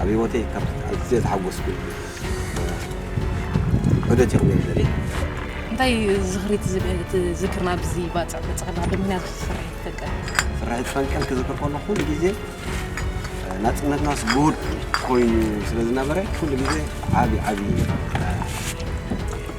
ኣብ ሂወተይ ካብ ኣዝየ ዝሓጎስኩሉ ዑደት እዩ ክብል ዝደሊ። እንታይ ዝኽሪ ትዝክር ናብዚ ባፅዕ ተፅቕላ ብምክንያት ፍርሒ ትፈንቀል? ፍርሒ ትፈንቀል ክዝክር ከሎ ኩሉ ግዜ ናፅነትናስ ጉድ ኮይኑ ስለ ዝነበረ ኩሉ ግዜ ዓብዪ ዓብዪ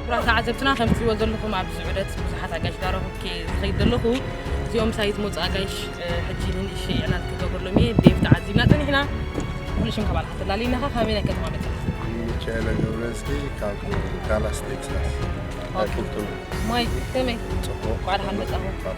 ክቡራት ተዓዘብትና ከም ትሪእዎ ዘለኹም ኣብዚ ዑደት ብዙሓት ኣጋይሽ ዳረኹብኪ ዝኸይድ ዘለኹ እዚኦም ሳይ ዝመፁ ኣጋይሽ ሕጂ ንንእሽ ዕላል ክገብረሎም እየ ዴቭ ተዓዚብና ፀኒሕና ኩሉ ሽም ካብ ኣልካ ተላልይና ኸ ካበይ ናይ ከተማ መፅኻ ሚካኤለ ገብረዝጊ ካብ ዳላስ ቴክሳስ ናይ ፉርቱና ማይ ከመይ ጽቡቅ ቋዕዳ ሓመጻኹ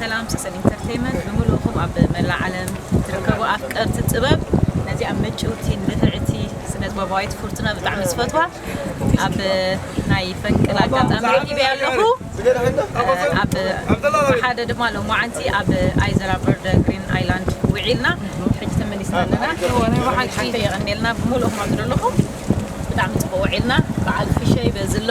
ሰላም ሰሰን ኢንተርተይመንት ብምልእኹም ኣብ መላእ ዓለም ትርከቡ ኣፍቀርቲ ጥበብ ነዚኣ ምጭውቲ ንፍዕቲ ስነጥበባዊት ፉርቱና ብጣዕሚ ዝፈትዋ ኣብ ናይ ፈንቅል ኣጋጣሚ ረኪበ ኣለኹ ኣብ ሓደ ድማ ሎማዓንቲ ኣብ ኣይዘራ በርደ ግሪን ኣይላንድ ውዒልና ሕጂ ተመሊስና ኣለና ሓቂ የቐኔልና ብምልእኹም ኣብ ዘለኹም ብጣዕሚ ፅቡቅ ውዒልና በዓል ፍሸይ በዝሎ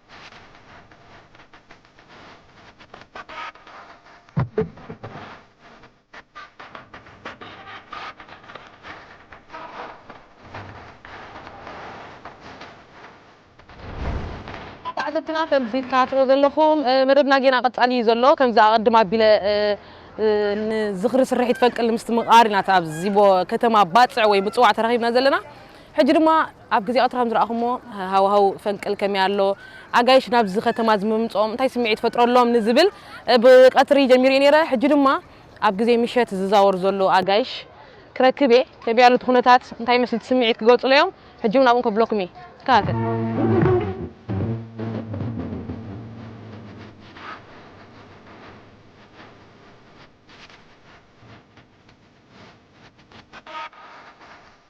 ተዓዘብትና ከምዚ ትከታተልዎ ዘለኹም መደብና ጌና ቀጻሊ እዩ ዘሎ ከምዚ ኣቐድም ኣቢለ ንዝኽሪ ስርሒት ፈንቅል ንምስትምቓር ኢና ኣብዚ ከተማ ባጽዕ ወይ ምጽዋዕ ተረኺብና ዘለና ሕጂ ድማ ኣብ ግዜ ቀትሪ ከም ዝረኣኹሞ ሃዋህው ፈንቅል ከመይ ኣሎ፣ ኣጋይሽ ናብዚ ከተማ እዚ ምምጽኦም እንታይ ስምዒት ይፈጥረሎም ንዝብል ብቀትሪ ጀሚረዮ ነይረ፣ ሕጂ ድማ ኣብ ግዜ ምሸት ዝዛወር ዘሎ ኣጋይሽ ክረክብ እየ፣ ከመይ ኣሎ እቲ ኩነታት እንታይ ይመስል እቲ ስምዒት ክገልጹለይ እዮም፣ ሕጂ ውን ኣብኡ ከብለኩም እየ፣ ተከታተል።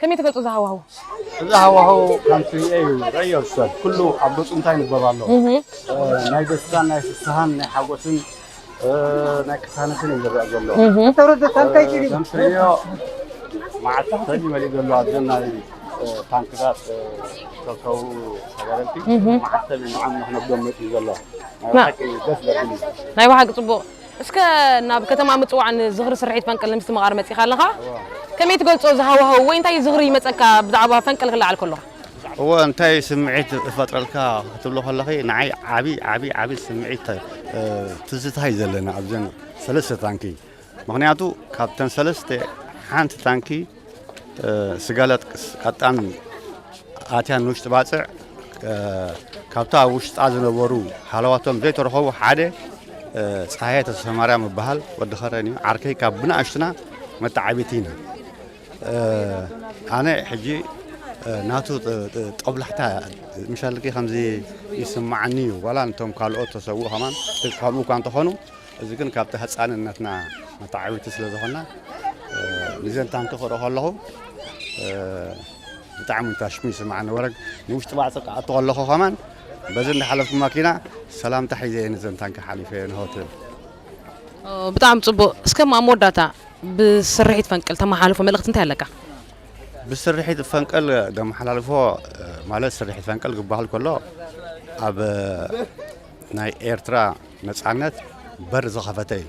ከመይ ትገልጾ እዚ ሃዋህው? እዚ ሃዋህው ከምቲ እዩ ረእዮ ሰብ ኩሉ ኣብ ገጹ እንታይ ይንበብ ኣሎ ናይ ደስታን ናይ ፍስሃን ናይ ሓጎስን ናይ ቅሳነትን እዩ ዝረአ ዘሎ ከምትርእዮ መዓልቲ ሰኒ መሊእ ዘሎ ኣብዘን ናይ ታንክታት ዝተርከቡ ተጋደልቲ መዓልቲ ሰኒ ንዓም ንክነብዶም መፅኡ ዘሎ ናይ ብሓቂ ደስ ዘብል እዩ ናይ ብሓቂ ፅቡቕ እስከ ናብ ከተማ ምጽዋዕ ን ዝኽሪ ስርሒት ፈንቅል ንምስትምቓር መጺኻ ኣለኻ። ከመይ ትገልጾ እዚ ሃዋህው ወይ እንታይ ዝኽሪ ይመጸካ ብዛዕባ ፈንቅል ክለዓል ከሎ? እወ እንታይ ስምዒት እፈጥረልካ ክትብሎ ከለኺ ንዓይ ዓቢ ዓቢ ዓቢ ስምዒት ትዝታ እዩ ዘለኒ ኣብዘን ሰለስተ ታንኪ ምኽንያቱ ካብተን ሰለስተ ሓንቲ ታንኪ ስጋላ ጥቅስ ኣጣሚ ኣትያ ንውሽጢ ባጽዕ ካብታ ኣብ ውሽጣ ዝነበሩ ሃለዋቶም ዘይተረኸቡ ሓደ ፀሓየ ተሰማርያ ምበሃል ወዲ ኸረን እዩ ዓርከይ ካብ ብንኣሽትና መተዓቢቲ ኢና ኣነ ሕጂ ናቱ ጠብላሕታ ምሻልቂ ከምዚ ይስማዓኒ እዩ ዋላ ንቶም ካልኦት ተሰውኡ ከማን ከምኡ እኳ እንተኾኑ እዚ ግን ካብቲ ህጻንነትና መተዓብይቲ ስለ ዝኾንና ንዘን ታንኪ ክርኢ ከለኹ ብጣዕሚ ታሽሙ ይስምዓኒ ወረግ ንውሽጢ ባዕፂ ክኣቱ ከለኹ ከማን በዚ እንዳሓለፍኩ ማኪና ሰላምታ ሒዘ እየ ንዘን ታንኪ ሓሊፈ እየ ንሆ ትብል ብጣዕሚ ፅቡቅ እስከ ኣብ መወዳእታ ብስርሒት ፈንቅል ተመሓልፎ መልእኽቲ እንታይ ኣለካ ብስርሒት ፈንቅል ዘመሓላልፎ ማለት ስርሒት ፈንቅል ክበሃል ከሎ ኣብ ናይ ኤርትራ ነጻነት በር ዝኸፈተ እዩ።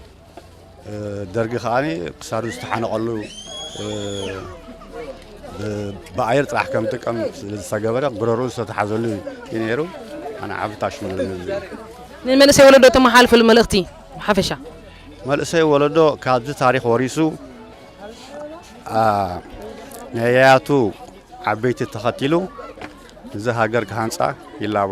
ደርጊ ከኣ ክሳዱ ዝተሓነቐሉ ብኣየር ጥራሕ ከም ጥቀም ስለዝተገበረ ጉረሩ ዝተተሓዘሉ እዩ ነይሩ። ኣነ ሓፈታሽ ንመንእሰይ ወለዶ ተመሓልፍሉ መልእኽቲ ሓፈሻ መንእሰይ ወለዶ ካብዚ ታሪክ ወሪሱ ነያያቱ ዓበይቲ ተኸቲሉ እዚ ሃገር ክሃንፃ ይላቦ።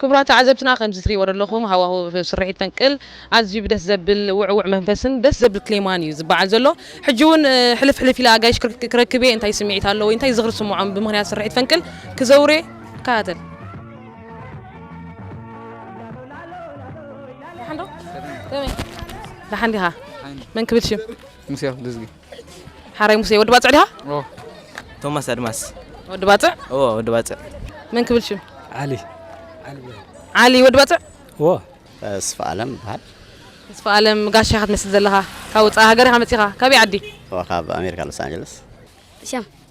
ክቡራት ተዓዘብትና ከምዚ ትሪእዎ ዘለኹም ሃዋህው ስርሒት ፈንቅል ኣዝዩ ብደስ ዘብል ውዕዉዕ መንፈስን ደስ ዘብል ክሌማን እዩ ዝበዓል ዘሎ። ሕጂ ውን ሕልፍ ሕልፍ ኢለ ኣጋይሽ ክረክብ እየ እንታይ ስምዒት ኣሎ ወይ እንታይ ዝኽሪ ዝስምዖም ብምኽንያት ስርሒት ፈንቅል ክዘውር እየ ተከታተል። ደሓን ዶ ከመይ ደሓን ዲኻ መን ክብል ሽም? ሙሴ ኣክልዝጊ። ሓራይ ሙሴ ወዲ ባጽዕ ዲኻ? ኦ ቶማስ ኣድማስ ወዲ ባጽዕ? ኦ ወዲ ባጽዕ መን ክብል ሽም? ዓሊ ዓሊ ወዲ ባጽዕ? ኦ ተስፋኣለም ይበሃል። ተስፋኣለም ጋሻ ኢኻ ትመስል ዘለኻ። ካብ ወጻኢ ሃገር ኢኻ መጺኻ። ካበይ ዓዲ? ካብ ኣሜሪካ ሎስ ኣንጀለስ። ሸም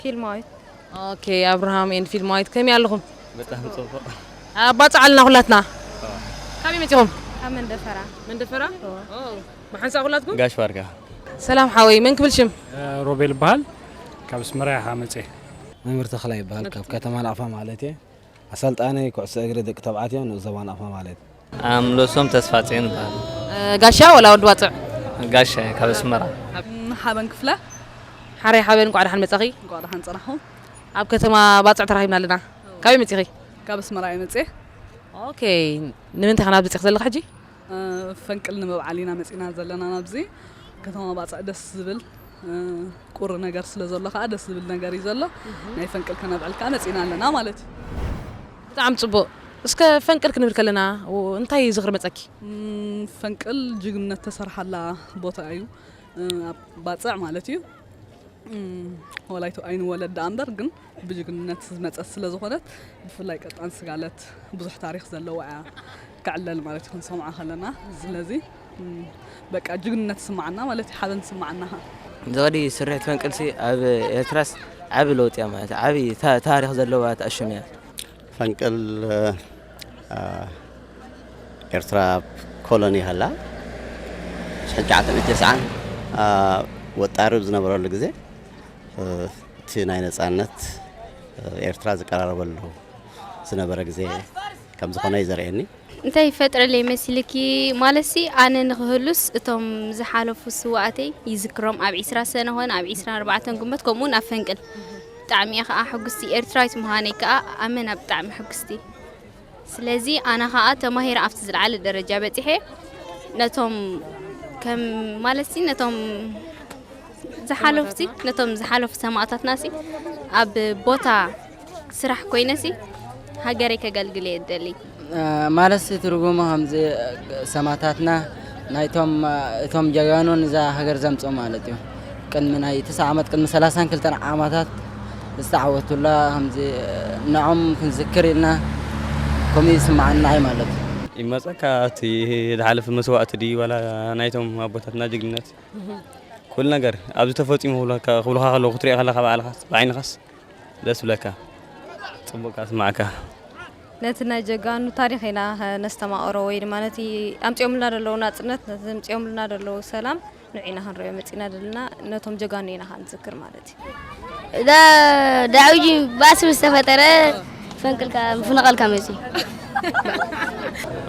ፊልማዊት ኦኬ ኣብርሃም ኤንድ ፊልማዊት ከመይ ኣለኹም? ብጣዕሚ ጽቡቕ ኣባጽዓልና ኩላትና ካበይ መጺኹም? ካብ መንደፈራ መንደፈራ ብሓንሳእ ኩላትኩም? ጋሽ ባርካ ሰላም ሓወይ መን ክብል ሽም? ሮቤል እበሃል ካብ ኣስመራ ኢኻ መጽየ። መምህር ተኽላይ ይበሃል ካብ ከተማ ናቕፋ ማለትየ ኣሰልጣኒ ኩዕሶ እግሪ ደቂ ተባዕትዮ ንኡስ ዞባ ናቕፋ ማለትየ። ኣምለሶም ተስፋጽዮን እበሃል። ጋሻ ወላ ወዲ ዋጽዕ? ጋሻ እየ ካብ ኣስመራ። ሓበን ክፍለ። ሓረይ ሓበን እንቋዕ ደሓን መጻኺ። እንቋዕ ደሓን ጸናሕኩም። ኣብ ከተማ ባጽዕ ተራኺብና ኣለና። ካበይ መጺኺ? ካብ ኣስመራ እየ መጽየ። ኦኬ ንምንታይ ከ ናብዚ መጺኺ ዘለኺ ሕጂ? ፈንቅል ንምብዓል ኢና መጺና ዘለና ናብዚ ከተማ ባጽዕ ደስ ዝብል። ቁሪ ነገር ስለ ዘሎ ከኣ ደስ ዝብል ነገር እዩ ዘሎ ናይ ፈንቅል ከነብዕል ከኣ መጺና ኣለና ማለት እዩ። ብጣዕሚ ጽቡቅ እስከ ፈንቅል ክንብል ከለና እንታይ ዝኽሪ መጸኪ? ፈንቅል ጅግንነት ተሰርሓላ ቦታ እዩ ኣብ ባጽዕ ማለት እዩ ወላይቶ ኣይንወለድ ደኣ እምበር ግን ብጅግንነት ዝመጸት ስለ ዝኾነት ብፍላይ ቀጣን ስጋለት ብዙሕ ታሪኽ ዘለዋ እያ ትዕለል ማለት እዩ ክንሰምዓ ከለና ስለዚ በቃ ጅግንነት ስማዓና ማለት እዩ ሓበን ስማዓና ዝቐዲ ስርሒት ፈንቅልሲ ኣብ ኤርትራስ ዓቢ ለውጢ እያ ማለት ዓቢ ታሪኽ ዘለዋ ትኣሽም እያ ፈንቅል ኤርትራ ኮሎኒ ሃላ ሽሕን ሸዓተ ሚእቲ ተስዓን ወጣሪ ዝነበረሉ ግዜ እቲ ናይ ነጻነት ኤርትራ ዝቀራረበሉ ዝነበረ ግዜ ከም ዝኾነ እዩ ዘርእየኒ። እንታይ ይፈጥረለይ መሲልኪ ማለትሲ ኣነ ንክህሉስ እቶም ዝሓለፉ ስውኣተይ ይዝክሮም ኣብ ዒስራ ሰነ ኮነ ኣብ ዒስራን ኣርባዕተን ግንቦት ከምኡ ውን ኣብ ፈንቅል ብጣዕሚ እየ ከኣ ሕጉስቲ ኤርትራዊት ምዃነይ ከኣ ኣመና ብጣዕሚ ሕጉስቲ ስለዚ ኣነ ከኣ ተማሂረ ኣብቲ ዝለዓለ ደረጃ በጺሐ ነቶም ከም ማለትሲ ነቶም ዝሓለፉሲ ነቶም ዝሓለፉ ሰማእታትናሲ ኣብ ቦታ ስራሕ ኮይነሲ ሃገረይ ከገልግል እየ ዝደሊ። ማለትሲ ትርጉሙ ከምዚ ሰማእታትና ናይቶም እቶም ጀጋኑ ንዛ ሃገር ዘምጽኡ ማለት እዩ። ቅድሚ ናይ ትስዓ ዓመት ቅድሚ ሰላሳን ክልተን ዓማታት ዝተዓወቱላ ከምዚ ንዖም ክንዝክር ኢልና ከምኡ ይስምዓና ኣዩ ማለት እዩ። ይመጸካ እቲ ዝሓለፈ መስዋእቲ ድዩ ዋላ ናይቶም ኣቦታትና ጅግንነት ኩሉ ነገር ኣብዚ ተፈጺሙ ክብሉካ ክብሉካ ከለዉ ክትሪኦ ከለካ ባዕልካስ ብዓይንካስ ደስ ብለካ ጽቡቅ ካስማዕካ። ነቲ ናይ ጀጋኑ ታሪኽ ኢና ከነስተማቕሮ ወይ ድማ ነቲ ኣምጺኦምልና ደለዉ ናጽነት ነቲ ኣምጺኦምልና ደለዉ ሰላም ንዑ ኢና ክንሪኦ መጺእና ዘለና ነቶም ጀጋኑ ኢና ከኣ ንዝክር ማለት እዩ እዛ ዳዕውጂ ባእሲ ምስ ተፈጠረ ፈንቅልካ ምፍንቓልካ መጺኡ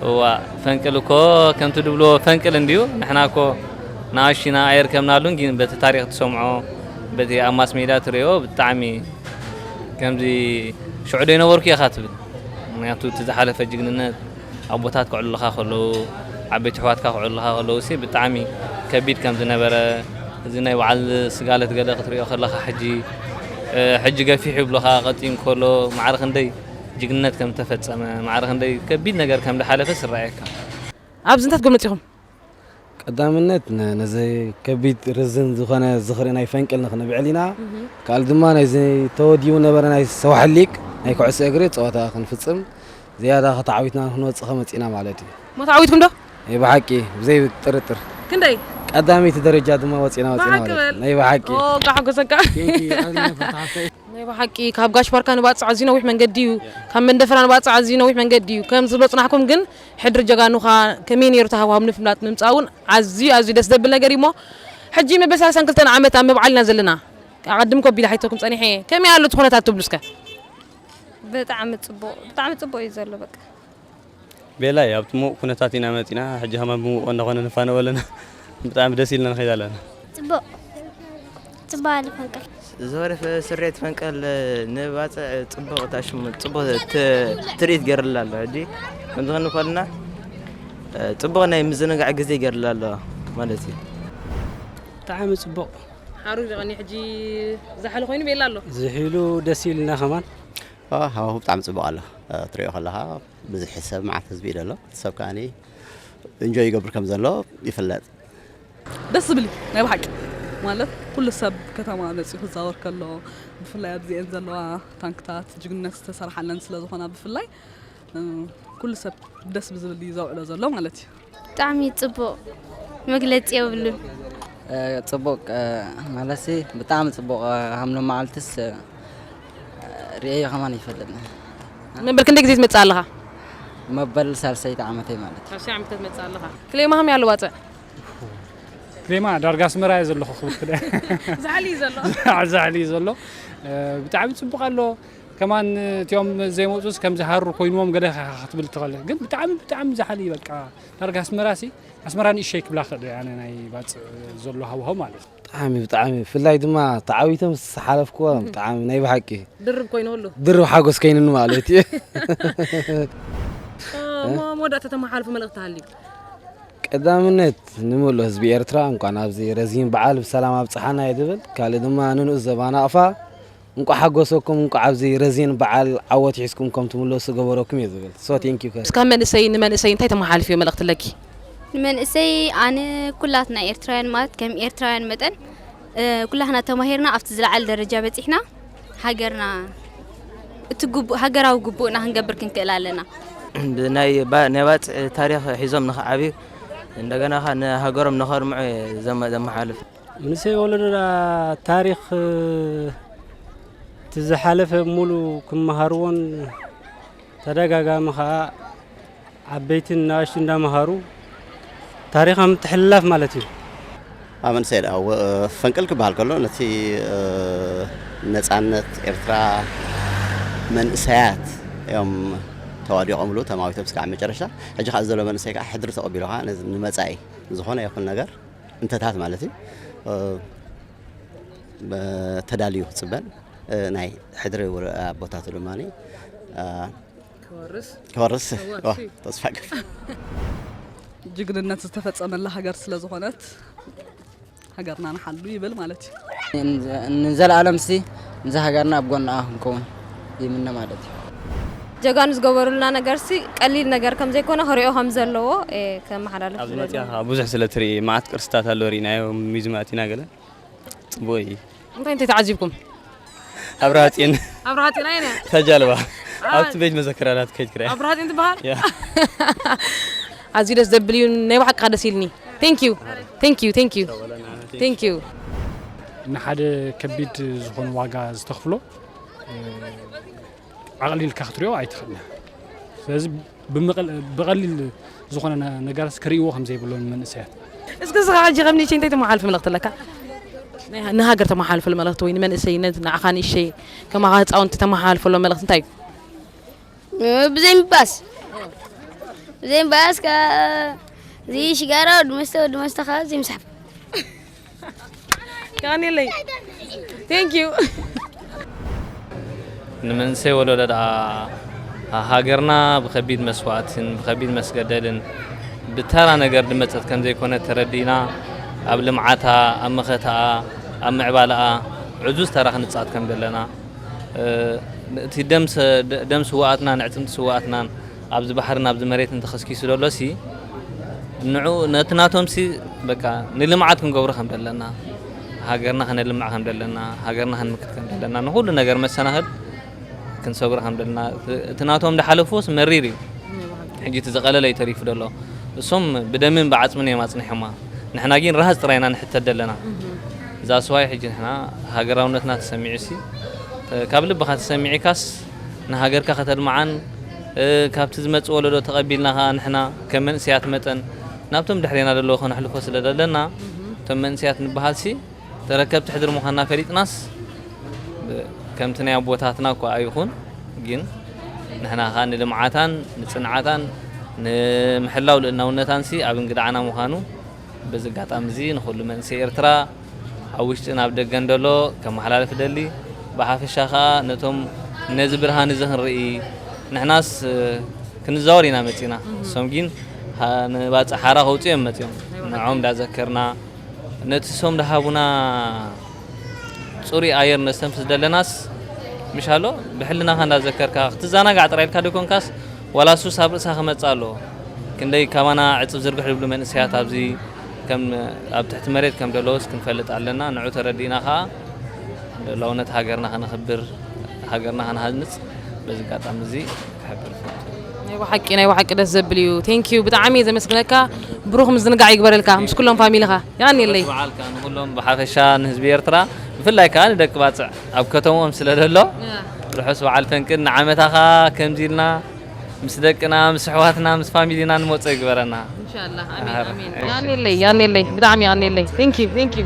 እዋእ ፈንቅል እኮ ከምቲ ድብሎ ፈንቅል እንድዩ ንሕና እኮ ንኣሽና ኣየርከብናሉን ግን በቲ ታሪክ ትሰምዖ በቲ ኣብ ማስ ሜድያ ትሪኦ ብጣዕሚ ከምዚ ሽዑ ዶ ይነበርኩ ኢኻ ትብል ምክንያቱ እቲ ዝሓለፈ ጅግንነት ኣቦታት ከዕልሉኻ ከለዉ፣ ዓበይቲ ኣሕዋትካ ከዕልሉኻ ከለዉሲ ብጣዕሚ ከቢድ ከም ዝነበረ፣ እዚ ናይ በዓል ስጋለት ገለ ክትሪኦ ከለኻ ሕጂ ሕጂ ገፊሕ ይብሉኻ ቀጢን እንከሎ ማዕረ ክንደይ ጅግንነት ከም ዝተፈጸመ፣ ማዕረ ክንደይ ከቢድ ነገር ከም ዝሓለፈስ ይረኣየካ። ኣብዚ እንታይ ክትገብሩ መጺኹም? ቀዳምነት ነዚ ከቢድ ርዝን ዝኾነ ዝኽሪ ናይ ፈንቅል ንክንብዕል ኢና ካልእ ድማ ናይዚ ተወዲቡ ነበረ ናይ ሰዋሕል ሊግ ናይ ኩዕሶ እግሪ ፀወታ ክንፍፅም ዝያዳ ከተዓዊትና ክንወፅእ ከመፂእና ማለት እዩ። እሞ ተዓዊትኩም ዶ? ናይ ብሓቂ ብዘይ ጥርጥር። ክንደይ? ቀዳመይቲ ደረጃ ድማ ወፂእና ወፂእና ብሓቂ ማለት እዩ። በል ናይ ብሓቂ። ኦ እንቃዕ ሓጎሰካ Thank you ኣዝዩ ነፈርቲ ሓፍተይ። ናይ ብሓቂ ካብ ጋሽ ባርካ ንባጽዕ ኣዝዩ ነዊሕ መንገዲ እዩ ካብ መንደፈራ ንባጽዕ ኣዝዩ ነዊሕ መንገዲ እዩ ከም ዝብሎ ጽናሕኩም ግን ሕድሪ ጀጋኑ ከኣ ከመይ ነይሩ ተሃዋህቡ ንምፍላጥ ምምጻእ ውን ኣዝዩ ኣዝዩ ደስ ዘብል ነገር እዩ እሞ ሕጂ መበል ሳልሳን ክልተን ዓመት ኣብ ምብዓል ኢና ዘለና ኣቐድም ኮ ኣቢለ ሓቲተኩም ጸኒሐ እየ ከመይ ኣሎ እቲ ኩነታት ትብሉ እስከ? ብጣዕሚ ጽቡቕ ብጣዕሚ ጽቡቕ እዩ ዘሎ በቃ። ቤላይ ኣብ ሙቕ ኩነታት ኢና መጺና ሕጂ ከማን ብሙቕ እንዳ ኮና ንፋነው ኣለና ብጣዕሚ ደስ ኢልና ንኸይድ ኣለና። ጽቡቕ ጽባቐ ንፈንቅል። ዝኸለፈ ስርየት ፈንቀል ንባጽዕ ጽቡቕ ታሽሙ ጽቡቕ ትርኢት ገይርላ ኣሎ። ሕጂ ከምዚ ክንዲ ኮልና ጽቡቕ ናይ ምዝንጋዕ ግዜ ገይርላ ኣሎ ማለት እዩ። ብጣዕሚ ጽቡቕ ሓሩ ጀቐኒ ሕጂ ዛሕሊ ኮይኑ ቤላ ኣሎ። ዝሒሉ ደስ ኢልና ከማን ሃዋሁ ብጣዕሚ ጽቡቕ ኣሎ ትሪኦ ከለኻ ብዙሕ ሰብ መዓት ህዝቢ እዩ ዘሎ ሰብ ከኣ እንጆይ ይገብር ከም ዘሎ ይፍለጥ ደስ ዝብል እዩ ናይ ብሓቂ ማለት ኩሉ ሰብ ከተማ መጺኡ ክዛወር ከሎ ብፍላይ ኣብዚኤን ዘለዋ ታንክታት ጅግንነት ዝተሰርሓለን ስለ ዝኾና ብፍላይ ኩሉ ሰብ ደስ ብዝብል እዩ ዘውዕሎ ዘሎ ማለት እዩ። ብጣዕሚ ጽቡቕ መግለጺ የብሉን። ጽቡቕ ማለትሲ ብጣዕሚ ጽቡቕ ሃምሎ መዓልትስ ርእየዮ ከማን ይፈልጥኒ መበል ክንደይ ግዜ ትመጽእ ኣለኻ? መበል ሳልሰይቲ ዓመተይ ማለት እዩ። ሳልሰይ ዓመተ ትመጽእ ኣለኻ ክሌ ማህም ያሉ ዋጸዕ ክሬማ ዳርጋ ኣስመራ እየ ዘለኹ ክብርቲ ደ ዛዕሊ እዩ ዘሎ ዛዕሊ እዩ ዘሎ ብጣዕሚ ጽቡቕ ኣሎ ከማን እቲኦም ዘይመፁስ ከም ዝሃሩ ኮይኑዎም ገለ ክትብል ትኽእል ግን ብጣዕሚ ብጣዕሚ ዝሓሊ በቃ ዳርጋ ኣስመራ ሲ ኣስመራ ንእሸይ ክብላ ክእል ኣነ ናይ ባፅእ ዘሎ ሃዋሁ ማለት እዩ ብጣዕሚ ብጣዕሚ ብፍላይ ድማ ተዓዊቶም ሓለፍክዎ ብጣዕሚ ናይ ብሓቂ ድርብ ኮይኑሉ ድርብ ሓጎስ ከይኑኒ ማለት እዩ መወዳእታ ተመሓልፉ መልእኽቲ ሃልዩ ቀዳምነት ንምሉእ ህዝቢ ኤርትራ እንቋዕ ናብዚ ረዚን በዓል ብሰላም ኣብጽሓና እየ ዝብል። ካልእ ድማ ንንኡስ ዘባ ናቕፋ እንቋዕ ሓጎሰኩም እንቋዕ ኣብዚ ረዚን በዓል ዓወት ሒዝኩም ከም ትምለሱ ዝገበረኩም እየ ዝብል። So thank you ከዚ። ካብ መንእሰይ ንመንእሰይ እንታይ ተመሓላልፍዮ መልእኽቲ ኣለኪ? ንመንእሰይ ኣነ ኩላትና ኤርትራውያን ማለት ከም ኤርትራውያን መጠን ኩላትና ተማሂርና ኣብቲ ዝለዓለ ደረጃ በጺሕና፣ ሃገርና እቲ ግቡእ ሃገራዊ ግቡእና ክንገብር ክንክእል ኣለና። ብናይ ባጽዕ ታሪኽ ሒዞም ንክዓብዩ እንደገና ከ ንሃገሮም ንከርምዑ ዘመሓልፍ መንእሰይ ወለዶና ታሪኽ እቲ ዝሓለፈ ሙሉ ክመሃርዎን ተደጋጋሚ ከኣ ዓበይትን ንኣሽቱን እንዳመሃሩ ታሪኻ ምትሕልላፍ ማለት እዩ። ኣብ መንእሰይ ደኣ ፈንቅል ክበሃል ከሎ ነቲ ነጻነት ኤርትራ መንእሰያት እዮም ተዋዲቖምሉ ተማዊቶም እስካዕ መጨረሻ። ሕጂ ከኣ እዚ ዘሎ መንእሰይ ከኣ ሕድሪ ተቐቢሉ ከኣ ነዚ ንመጻኢ ዝኾነ ይኹን ነገር እንተታት ማለት እዩ ተዳልዩ ክጽበን ናይ ሕድሪ ኣቦታቱ ድማ ክወርስ ተስፋ ገብ ጅግንነት ዝተፈፀመላ ሃገር ስለ ዝኾነት ሃገርና ንሓሉ ይብል ማለት እዩ ንዘለኣለም ሲ እዚ ሃገርና ኣብ ጎናኣ ክንከውን ይምነ ማለት እዩ ጀጋኑ ዝገበሩልና ነገር ሲ ቀሊል ነገር ከም ዘይኮነ ክሪኦ ከም ዘለዎ ከመሓላለፍ ኣብዚ መፅያ ብዙሕ ስለ ትርኢ መዓት ቅርስታት ኣሎ ርኢናዮ ሚዝም ኣቲና ገለ ጽቡቅ እዩ እንታይ እንታይ ተዓዚብኩም ኣብርሃ ጽዮን ኣብርሃ ጽዮን ኣይነ ተጃልባ ኣብቲ ቤት መዘክራ ናት ከይድ ክርያ ኣብርሃ ጽዮን ትበሃል ኣዝዩ ደስ ዘብል እዩ ናይ ባሓቂ ደስ ኢልኒ ቴንክ ዩ ቴንክ ዩ ቴንክ ዩ ቴንክ ዩ ንሓደ ከቢድ ዝኾነ ዋጋ ዝተኽፍሎ ኣቕሊልካ ክትሪኦ ኣይትኽእልን ስለዚ ብቐሊል ዝኾነ ነገራት ክርእይዎ ከም ዘይብሎም መንእሰያት እስኪ እስኻ ሕጂ ከም ንእሸይ እንታይ ተመሓላልፍ መልእኽቲ ኣለካ ንሃገር ተመሓላልፈሉ መልእኽቲ ወይ ንመንእሰይ ንዓኻ ንእሸይ ከማኻ ህፃውንቲ ተመሓላልፈሎ መልእኽቲ እንታይ እዩ ብዘይ ምባስ ብዘይ ምባስ እዚ ሽጋራ ወዲ መስተ ወዲ መስተ ካብ ዘይምስሓብ የቀንየለይ ቴንክ ዩ ንመንእሰይ ወለዶ ደኣ ሃገርና ብከቢድ መስዋእትን ብከቢድ መስገደልን ብተራ ነገር ድመፀት ከም ዘይኮነ ተረዲእና ኣብ ልምዓታ ኣብ መኸታኣ ኣብ ምዕባላኣ ዕዙዝ ተራ ክንፃወት ከም ዘለና እቲ ደም ስዋኣትና ንዕፅምቲ ስዋኣትናን ኣብዚ ባሕርን ኣብዚ መሬትን ተኸስኪሱ ደሎሲ ንዑ ነቲ ናቶምሲ በቃ ንልምዓት ክንገብሮ ከም ደለና ሃገርና ከነልምዕ ከም ደለና ሃገርና ክንምክት ከም ደለና ንኹሉ ነገር መሰናኽል ክንሰግሮ ከም ደለና እቲ ናቶም ዝሓለፍዎስ መሪር እዩ ሕጂ እቲ ዝቐለለ እዩ ተሪፉ ደሎ እሶም ብደምን ብዓጽምን እዮም ኣጽኒሖማ ንሕና ግን ራሃጽ ጥራይ ኢና ንሕተት ደለና እዛ ስዋይ ሕጂ ንሕና ሃገራውነትና ተሰሚዑሲ ካብ ልብኻ ተሰሚዒካስ ንሃገርካ ከተልምዓን ካብቲ ዝመጽእ ወለዶ ተቐቢልና ከኣ ንሕና ከም መንእሰያት መጠን ናብቶም ድሕሬና ደለዉ ከነሕልፎ ስለ ደለና እቶም መንእሰያት ንበሃልሲ ተረከብቲ ሕድሪ ምዃንና ፈሊጥናስ ከምቲ ናይ ኣቦታትና እኳ ኣይኹን ግን ንሕና ከኣ ንልምዓታን ንጽንዓታን ንምሕላው ልእልናውነታንሲ ኣብ እንግድዓና ምዃኑ በዚ ኣጋጣሚ እዚ ንኹሉ መንእሰይ ኤርትራ ኣብ ውሽጥን ኣብ ደገን ደሎ ከመሓላልፍ እደሊ ብሓፈሻ ከኣ ነቶም ነዚ ብርሃን እዚ ክንርኢ ንሕናስ ክንዛወር ኢና መጺና እሶም ጊን ንባጽዕ ሓራ ከውጽኡ እዮም መጺኦም ንዖም ዳዘከርና ነቲ እሶም ዳሃቡና ጽሩይ ኣየር ነስተንፍስ ደለናስ ምሻሎ ብሕልናኻ እንዳዘከርካ ክትዛናጋዕ ጥራይ ኢልካ ደይኮንካስ ዋላ ሱስ ኣብ ርእሳ ክመጽእ ኣለዎ። ክንደይ ካባና ዕጽፍ ዝርግሕ ዝብሉ መንእሰያት ኣብዚ ከም ኣብ ትሕቲ መሬት ከም ደለዉስ ክንፈልጥ ኣለና። ንዑ ተረዲእና ከኣ ሉኣላውነት ሃገርና ከነኽብር ሃገርና ክንሃንጽ በዚ ኣጋጣሚ እዚ ክሕብር እፈቱ። ናይ ባሓቂ ናይ ባሓቂ ደስ ዘብል ኢዩ ቴንኪው ብጣዓሚ ኢየ ዘመስግነካ ብሩኽ ምዝንጋዕ ይግበረልካ ምስ ኩሎም ፋሚሊኻ የቀንየለይ። ዑረስ በዓል ከኣ ንኹሎም ብሓፈሻ ንህዝቢ ኤርትራ ብፍላይ ከኣ ንደቂ ባጽዕ። ኣብ ከተምኦም ስለ ዘሎ ርሑስ በዓል ፈንቅል ንዓመታ ከኣ ከምዚ ኢልና ምስ ደቅና ምስ ኣሕዋትና ምስ ፋሚሊና ንመጾ ይግበረና። ኢንሻላህ ኣሜን ኣሜን ያኔለይ ያኔለይ ብጣዕሚ ያኔለይ ቴንኪዩ ቴንኪዩ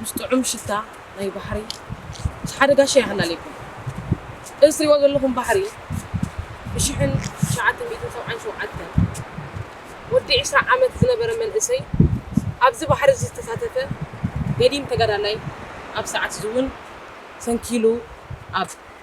ምስ ጥዑም ሽታ ናይ ባሕሪ ሓደ ጋሻ ይሃላለየኩም። እዚ ትሪእዎ ዘለኹም ባሕሪ ብ ሽሕን ትሽዓተ ሚእትን ሰብዓን ሸውዓተን ወዲ ዕስራ ዓመት ዝነበረ መንእሰይ ኣብዚ ባሕሪ እዚ ዝተሳተፈ ገዲም ተጋዳላይ ኣብ ሰዓት እዚ እውን ሰንኪሉ ኣብ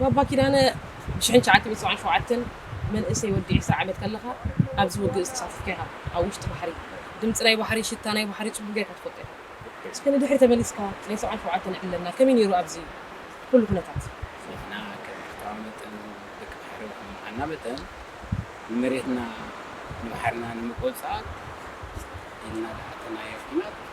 ባባ ኪዳነ ብ ሽሕን ትሽዓተ ሚእቲ ሰብዓን ሸውዓተን መንእሰይ ወዲ ዕስራ ዓመት ከለኻ ኣብዚ ውግእ ዝተሳተፍካ ኢኻ ኣብ ውሽጢ ባሕሪ ድምጺ ናይ ባሕሪ ሽታ ናይ ባሕሪ ጽቡቅ ጌርካ ትፈልጦ ኢኻ እስከ ንድሕሪ ተመሊስካ ናይ ሰብዓን ሸውዓተን ዕብለልና ከመይ ኔሩ ኣብዚ ኩሉ ኩነታት። ንሕና ከም ኤርትራዊ መጠን ደቂ ባሕሪ ከም ምኻንና መጠን ንመሬትና ንባሕርና ንምቁጽጻር ኢልና ዝኣተናዮ ኩናት፣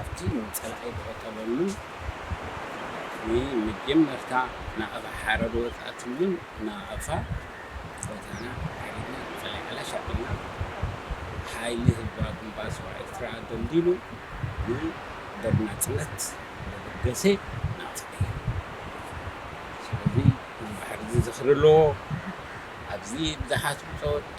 ኣብቲ ንጸላኢ ዝቐተለሉን ንመጀመርታ ናቕፋ ሓረር ዝወጽኣትሉን ናቕፋ ጸወታና ኣካይድና ንጸላኢ ዓላሽ ኣቢልና ሓይሊ ህዝባዊ ግንባር ሰውራ ኤርትራ ደልዲሉ ንደብ ናጽነት ዘበገሰ ናቕፋ እዩ። ስለዚ እዚ ባሕሪ እዚ ዝኽሪ ኣለዎ። ኣብዚ ብዙሓት ብጾት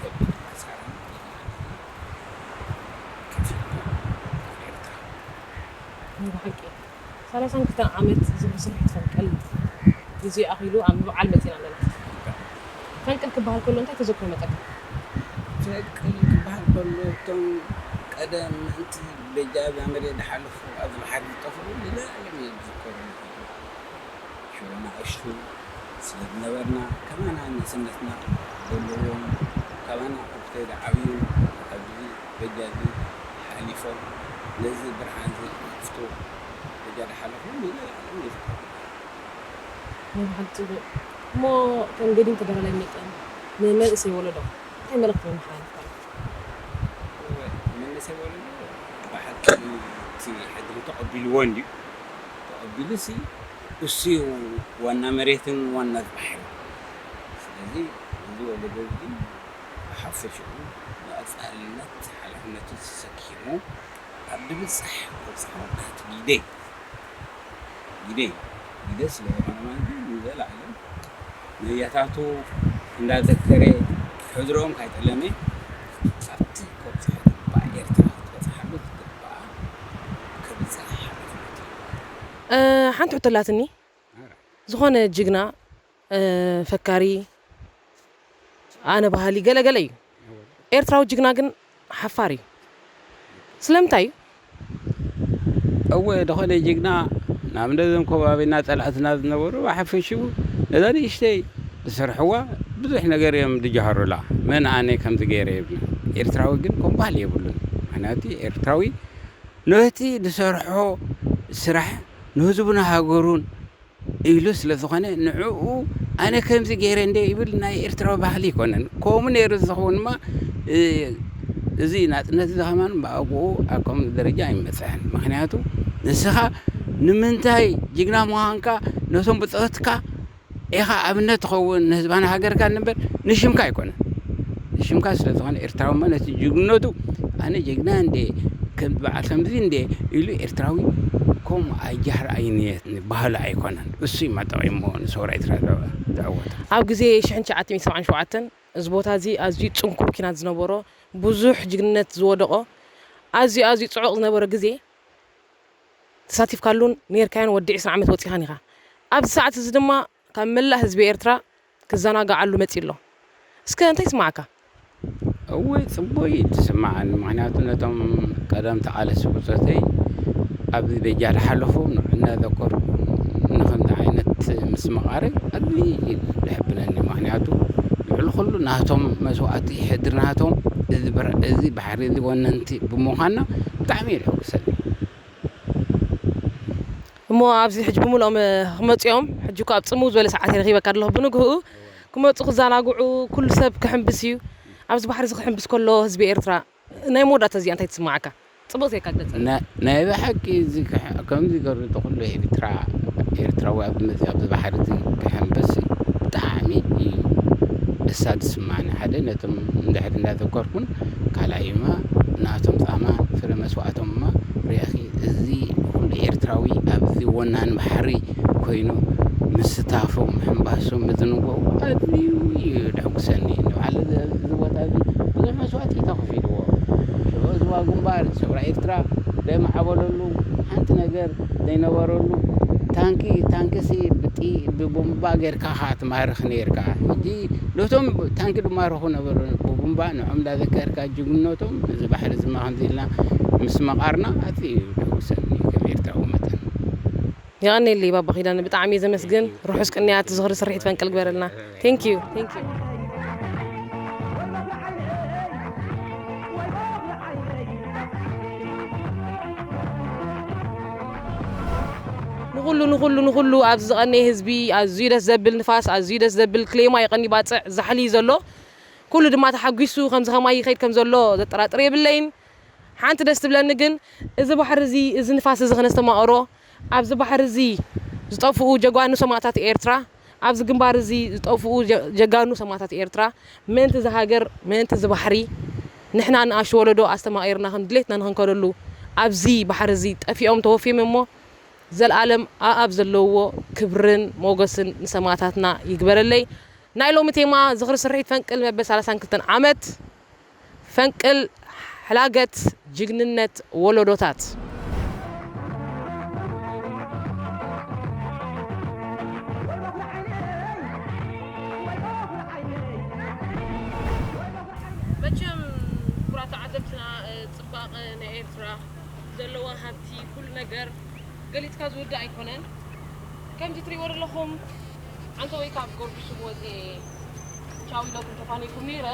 ከቢድ ሓሳርን ናይ ብሓቂ ሰላሳን ክልተን ዓመት ዝብሉ ስርሒት ፈንቅል ግዜኡ ኣኺሉ ኣብ ምብዓል መጺና ኣለና። ፈንቅል ክበሃል ከሎ እንታይ ተዘክሮ ይመጸካ? ፈንቅል ክበሃል ከሎ እቶም ቀደም ምእንቲ በጃ ዛምሬ ዝሓለፉ ኣብ ዝባሕሪ ዝጠፍኡ ዝለኣለም እዮም ዝዝከሩኒ። ሽዑ ናእሽቱ ስለ ዝነበርና ከማና ንእስነትና ዘለዎም ካባና ኣብ ዝተዓብዩ ኣብዚ በጃ እዚ ሓሊፎም ነዚ ብርሃንዚ ይኽፍቱ በጃ ድሓለፉ ንዘልኣለም ይዘከሩ። ናይ ብሓቂ ጽቡቅ እሞ ከም ገዲም ተጋዳላይ መጠን ንመንእሰይ ወለዶ እንታይ መልእኽቲ መመሓላልፍካ ኣለካ? እወ መንእሰይ ወለዶ ብሓቂ እቲ ሕድሪ ተቀቢልዎ እንድዩ። ተቐቢሉሲ እሱዩ ዋና መሬትን ዋና ባሕርን ስለዚ እዚ ወለዶ እዚ ብሓፈሽኡ ብቐጻልነት ሓላፍነቱ ተሰኪሙ ኣብ ድብጻሕ ክበጽሖ ትሕቲ ግደ ግደዩ ግደ ስለዝኾነ ማለት ንዘላኣለም ንያታቱ እንዳዘከረ ሕድሮኦም ካይጠለመ ኣብቲ ከብጽሖ ዝግባእ ኤርትራ ክትበጽሓሉ ዝግባኣ ክብል ጸኒሐ ሓሊፉ እዩ ተግባሩ። ሓንቲ ሕቶ ኣላትኒ ዝኾነ ጅግና ፈካሪ ኣነ በሃሊ ገለ ገለ እዩ ኤርትራዊ ጅግና ግን ሓፋር እዩ ስለምንታይ እዩ? እወ ዝኾነ ጅግና ናብ ነዞም ከባቢና ጸላእትና ዝነበሩ ብሓፈሽኡ ነዛ ንእሽተይ ዝሰርሕዋ ብዙሕ ነገር እዮም ድጃሃሩላ መን ኣነ ከምዚ ገይረ የብሉን ኤርትራዊ ግን ከምኡ ባህሊ የብሉን ምክንያቲ ኤርትራዊ ኖህቲ ድሰርሖ ስራሕ ንህዝቡን ሃገሩን ኢሉ ስለ ዝኾነ ንዕኡ ኣነ ከምዚ ገይረ እንደ ይብል ናይ ኤርትራዊ ባህሊ ኣይኮነን ከምኡ ነይሩ ዝኸውንማ እዚ ናጽነት እዚ ከማን ብኣግኡ ኣብ ከምዚ ደረጃ ኣይምበጽሐን ምክንያቱ ንስኻ ንምንታይ ጅግና ምዃንካ ነቶም ብጾትካ ኢኻ ኣብነት ትኸውን ንህዝባን ሃገርካን እምበር ንሽምካ ኣይኮነን ንሽምካ ስለ ዝኾነ ኤርትራዊ ማለት ጅግንነቱ ኣነ ጀግና እንዴ ከም በዓል ከምዚ እንዴ ኢሉ ኤርትራዊ ከምኡ ኣይጃህር ኣይንየት ባህሉ ኣይኮነን እሱ እዩ መጠቂሞ ንሰውራ ኤርትራ ዘዕወተ ኣብ ግዜ ሽሕን ትሽዓተ ሚእትን ሰብዓን ሸውዓተን እዚ ቦታ እዚ ኣዝዩ ጽንኩር ኪናት ዝነበሮ ብዙሕ ጅግንነት ዝወደቖ ኣዝዩ ኣዝዩ ጽዑቕ ዝነበረ ግዜ ተሳቲፍካሉን ኔርካዮን ወዲ ዕስራ ዓመት ወጺኻን ኢኻ። ኣብዚ ሰዓት እዚ ድማ ካብ መላእ ህዝቢ ኤርትራ ክዘናግዓሉ መጺኡ ኣሎ። እስከ እንታይ ይስመዓካ? እወ ጽቡቅ እዩ ዝስመዓኒ ምክንያቱ ነቶም ቀደም ተቃለስቲ ብጾተይ ኣብዚ በጃ ዝሓለፉ እናዘከርኩ ንከምዚ ዓይነት ምስምቃረይ ኣዝዩ እዩ ዘሕብነኒ ምክንያቱ ልዕሊ ኩሉ ናቶም መስዋእቲ ሕድሪ ናቶም እዚ እዚ ዓብዪ ወነንቲ ብምዃንና ብጣዕሚ እዩ ዘሕጉሰኒ። እሞ ኣብዚ ሕጂ ብምሉኦም ክመጹ እዮም፣ ሕጂ እኳ ኣብ ጽምው ዝበለ ሰዓተይ ረኺበካ ኣለኹ፣ ብንግህኡ ክመጹ ክዛናግዑ ኩሉ ሰብ ክሕምብስ እዩ፣ ኣብዚ ባሕሪ እዚ ክሕምብስ ከሎ ህዝቢ ኤርትራ ናይ መወዳእታ እዚኣ እንታይ ትስምዓካ? ጽቡቕ ዜርካ ግለጸለይ። ናይ ብሓቂ እዚ ከምዚ ገሩ ተኹሉ ኤርትራ ኤርትራዊ ኣብ መጽ ኣብዚ ባሕሪ እዚ ክሕምብስ ብጣዕሚ እዩ ደስታ ዝስማዓኒ ሓደ ነቶም ንድሕሪት እንዳዘከርኩን ካልኣይ እማ ናቶም ጻማ ፍረ መስዋእቶም እማ ርኣኺ እዚ ኩሉ ኤርትራዊ ኣብዚ ወናኒ ባሕሪ ኮይኑ ምስታፉ ምሕንባሱ ምዝንጋዑ ኣዝዩ እዩ ደጉሰኒ ንበዓል እዚ ቦታ እዚ ብዙሕ መስዋእቲ እዩ ተኸፊልዎ ሽዑ ህዝባዊ ግንባር ሰውራ ኤርትራ ዘይማዕበለሉ ሓንቲ ነገር ዘይነበረሉ ታንኪ ታንኪሲ ብጥይ ብቡምባ ጌርካ ኢኻ ትማርኽ ኔርካ ሕጂ ነቶም ታንኪ ድማረኹ ነበሩ ብቡምባ ንዖም ዳዘከርካ ጅግንነቶም እዚ ባሕሪ እዚ እማ ከምዚ ኢልና ምስ መቃርና ኣዝዩ እዩ ደጉሰኒ ከም ኤርትራዊ መጠን። የቐኔለይ ባባ ኪዳነ ብጣዕሚ እየ ዘመስግን ርሑስ ቅንያት ዝኽሪ ስርሒት ፈንቅል ግበረልና Thank you። ንኹሉ ንኹሉ ንኹሉ ኣብዚ ዝቐነየ ህዝቢ ኣዝዩ ደስ ዘብል ንፋስ ኣዝዩ ደስ ዘብል ክሌማ ይቐንዩ ባጽዕ ዛሕሊ እዩ ዘሎ ኩሉ ድማ ተሓጒሱ ከምዚ ከማይ ይኸይድ ከም ዘሎ ዘጠራጥር የብለይን ሓንቲ ደስ ትብለኒ ግን እዚ ባሕሪ እዚ እዚ ንፋስ እዚ ከነስተማቕሮ ኣብዚ ባሕሪ እዚ ዝጠፍኡ ጀጓኑ ሰማእታት ኤርትራ ኣብዚ ግንባር እዚ ዝጠፍኡ ጀጋኑ ሰማእታት ኤርትራ ምእንቲ እዛ ሃገር ምእንቲ እዚ ባሕሪ ንሕና ንኣሽቱ ወለዶ ኣስተማቒርና ከም ድሌትና ንኽንከደሉ ኣብዚ ባሕሪ እዚ ጠፊኦም ተወፍዮም እሞ ዘልኣለም ኣኣብ ዘለውዎ ክብርን ሞገስን ንሰማእታትና ይግበረለይ ናይ ሎሚ ቴማ ዝኽሪ ስርሒት ፈንቅል መበል ሰላሳን ክልተን ዓመት ፈንቅል ሕላገት ጅግንነት ወሎዶታት። መቸም ኩቡራት ተዓዘብትና ጽባቀ ናይ ኤርትራ ዘለዋ ሃብቲ ኩሉ ነገር ገሊጽካ ዝውዳእ ኣይኮነን ከምዚ ትሪእዎ ደለኹም ዓንተቦይ ካብ ጎርግሽ ስብ ወጺኤ ቻው ኢለኩም ተፋኒኩም ኔረ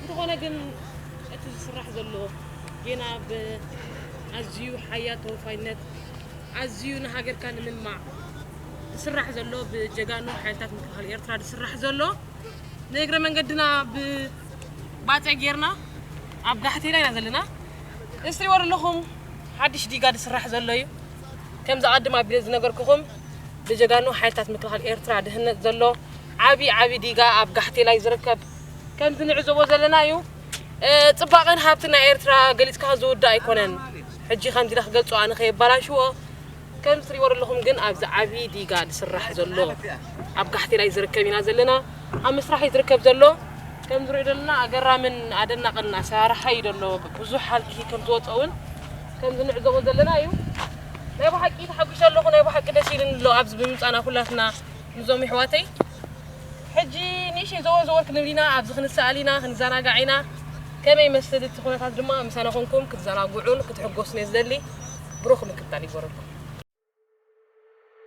እንተኾነ ግን እቲ ዝስራሕ ዘሎ ጌና ብኣዝዩ ሓያል ተወፋይነት ኣዝዩ ንሃገርካ ንምልማዕ ዝስራሕ ዘሎ ብጀጋኑ ሓይልታት ምክልኻል ኤርትራ ዝስራሕ ዘሎ ንእግረ መንገድና ብባፀ ጌርና ኣብ ጋሕቴና ኢና ዘለና እስሪዎ ዘለኹም ሓድሽ ዲጋ ዝስራሕ ዘሎ እዩ ከምዚ ኣድም ኣቢለ ዝነገርኩኹም ብጀጋኑ ሓይልታት ምክልኻል ኤርትራ ድህነት ዘሎ ዓቢ ዓቢ ዲጋ ኣብ ጋሕቴላ እዩ ዝርከብ። ከምዚ ንዕዘቦ ዘለና እዩ። ጽባቐን ሃብትን ናይ ኤርትራ ገሊጽካ ዝውዳእ ኣይኮነን። ሕጂ ከምዚ ኢለ ክገልጾ ኣነ ከየባላሽዎ ከም ትሪእዎ ዘለኹም ግን ኣብዚ ዓቢ ዲጋ ዝስራሕ ዘሎ ኣብ ጋሕቴላ እዩ ዝርከብ ኢና ዘለና። ኣብ ምስራሕ እዩ ዝርከብ ዘሎ። ከም ዝሪኦ ዘለና ኣገራምን ኣደናቕን ኣሰራርሓ እዩ ዘሎ። ብዙሕ ሃልኪ ከም ዝወጾ እውን ከም ዝንዕዘቦ ዘለና እዩ። ናይ ባሓቂ ተሓጉሸ ኣለኩ ናይ ባሓቂ ደስ ኢሉኒ ኣሎ ኣብዚ ብምምጻና ኩላትና ምዞም ይሕዋተይ ሕጂ ንእሽተይ ዘወር ዘወር ክንብል ኢና ኣብዚ ክንሰኣል ኢና ክንዘናጋዕ ኢና ከመይ ይመስል እቲ ኩነታት ድማ ምሳና ኮንኩም ክትዘናግዑን ክትሕጎሱን እየ ዝደሊ ብሩክ ምክታል ይግበረልኩም።